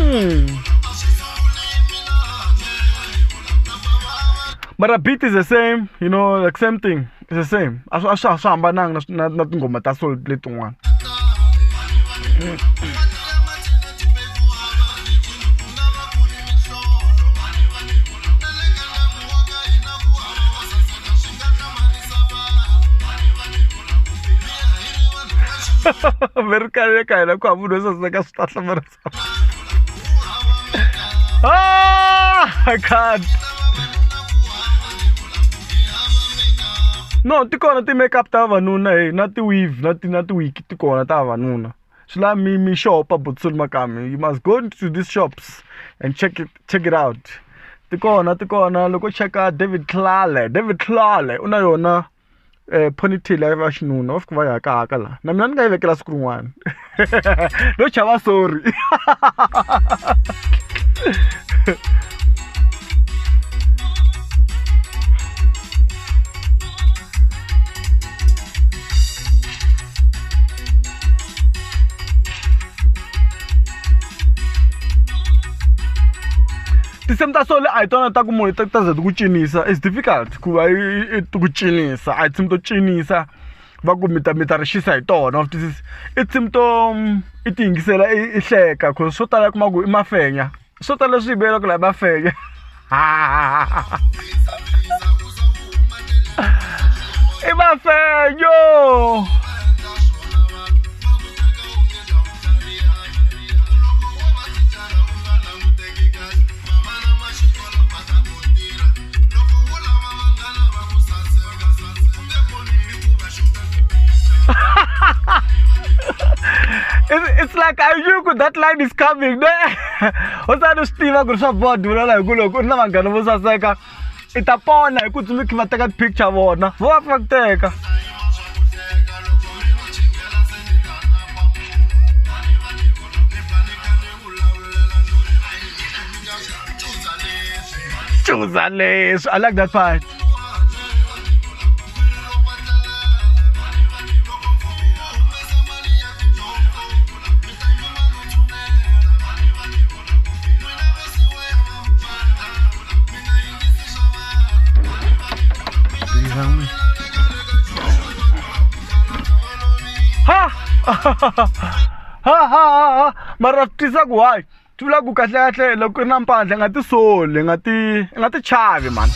Mm. but a beat is the same you know like same thing is the same a swi a swi a swi hambananga na swi- na na tinghoma ta sol letin'wana mi ri kale ka hina ku hava munhu wo saseka swi ta hlamarisa ah, I can't. no ti kona ti-makeup ta vavanuna e na ti-weave na ti na ti-wiki ti kona ta vavanuna swi la mi mi shop a botsoli makami you must go to these shops and check it check it out ti kona ti kona loko cheka david tlale david tlale u na yona ponytail ya va xinuna va fika va ya hakahaka laha na mina ni nga yi vekela siku rin'wana no chava sorry tinsimu ta solo a hi tona ta ku munhu ta ta za ti ku cinisa is difficult ku va i ti ku cinisa a hi tinsimu to cinisa va ku mi ta mi ta ri xisa hi tona wa twisisa i tinsimu to mm, i ti yingisela i hleka cause swo tala kuma ku i mafenya swo tala leswi yi vuyelaka laha mafenya i mafenyo it's, it's like I knew ku- that line is coming ne usani u swi tiva ku ri swa board vulela hi ku loko u ri na vanghana vo saseka i ta pona hi ku tsundzuki va teka picture vona vo va pfa ku teka Chuza leswi. I like that part. Ha! ha ha ha ha mara swi twisa ku hayi swi vula ku kahlekahle loko ri na mpandla nga ti soli nga ti nga ti chavi mani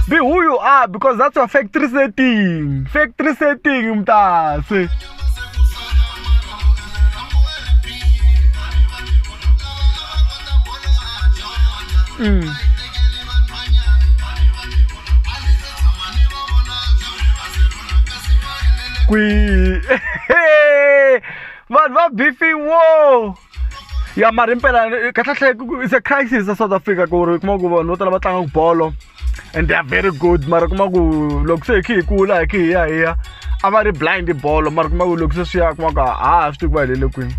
be who you are because that's your factory setting factory setting mtase mm. kwihi vanhu va bifiwo ya mari mpela kahlekahle it's a crisis a south africa ku ri kuma ku vanhu vo tala va tlanga bolo and they are very good mara kuma ku loko se hi khe hi kula hi khe hi ya hi ya a va ri blind bolo mara kuma ku loko se swi ya kuma ku a ha swi tivi ku va helele kwini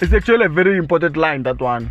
it's actually a very important line that one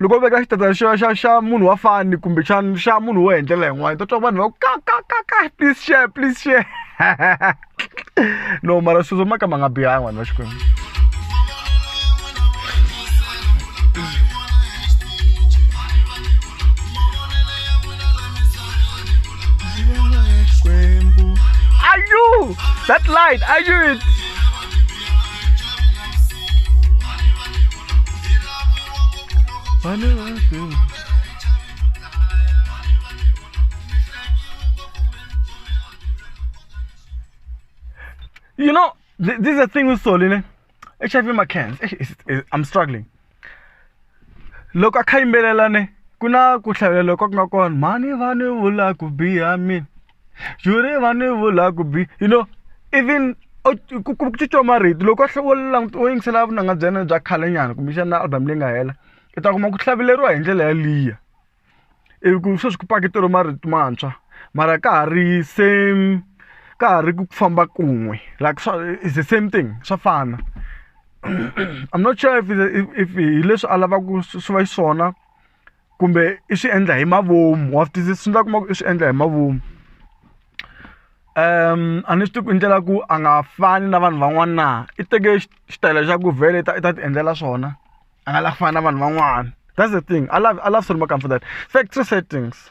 loko veka xitatana xa xa xa munhu wa fani kumbe xa xa munhu wo endlela yin'wana ta twa vanhu va ku ka ka ka ka please share please share no mara sweswo maka ma nga bihanga vanhu va xikwembu Are you that light? Are you it? Pane vake. You know, th this is the thing with Solene. HIV ma cans. I'm struggling. Loko a kha yimbelela ne ku na ku hlavelela loko ku nga kona mhani vani vula ku biha mina. yuri vanhu yi vula ku bi you know even ku ku cinca marito loko a wo languta wo yingisela vunanga bya yena bya khale nyana kumbexana album leyi nga hela i ta kuma ku hlaveleriwa hi ndlela yaliya ivi ku sweswi ku paketeriwe marito mantshwa mara ka ha ri same ka ha ri ku famba kun'we like swa is the same thing swa fana i'm not sure if if hi leswi a lavaka swi va xiswona kumbe i swi endla hi mavomu wa swi twisisa swi endla u kuma ku i swi endla hi mavomu a ni swi tivi ku i ndlela ku a nga fani na vanhu van'wana na i teke xitayele xa ku vhele i ta i ta ti endlela swona a nga lavi ku fana na vanhu van'wana that's the thing a love a love certain more comfortable factory settings.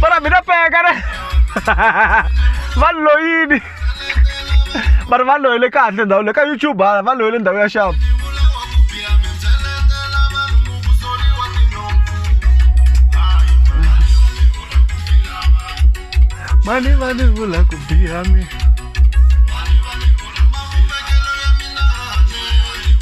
Bora mi na pega, né? Va loyini. Vanhu va loyile kahle ndhawu le ka YouTube hala va loyile ndhawu ya xava. Mani vani vula ku biha mi.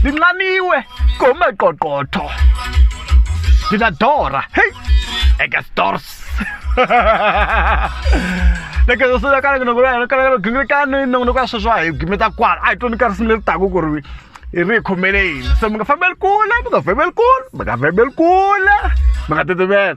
ndinxaniwe ngomaqoqotho ndinadora heyi ekestors nekezosoyakaneke nokoyakanekanogingekanoi nokoyasho swa hi gimeta kwala a hi toni karisi mi leri taku ku ri hi ri hi khomele yini se mi nga fambeli kule mi nga fambeli kule mi nga fambeli kule mi nga titimela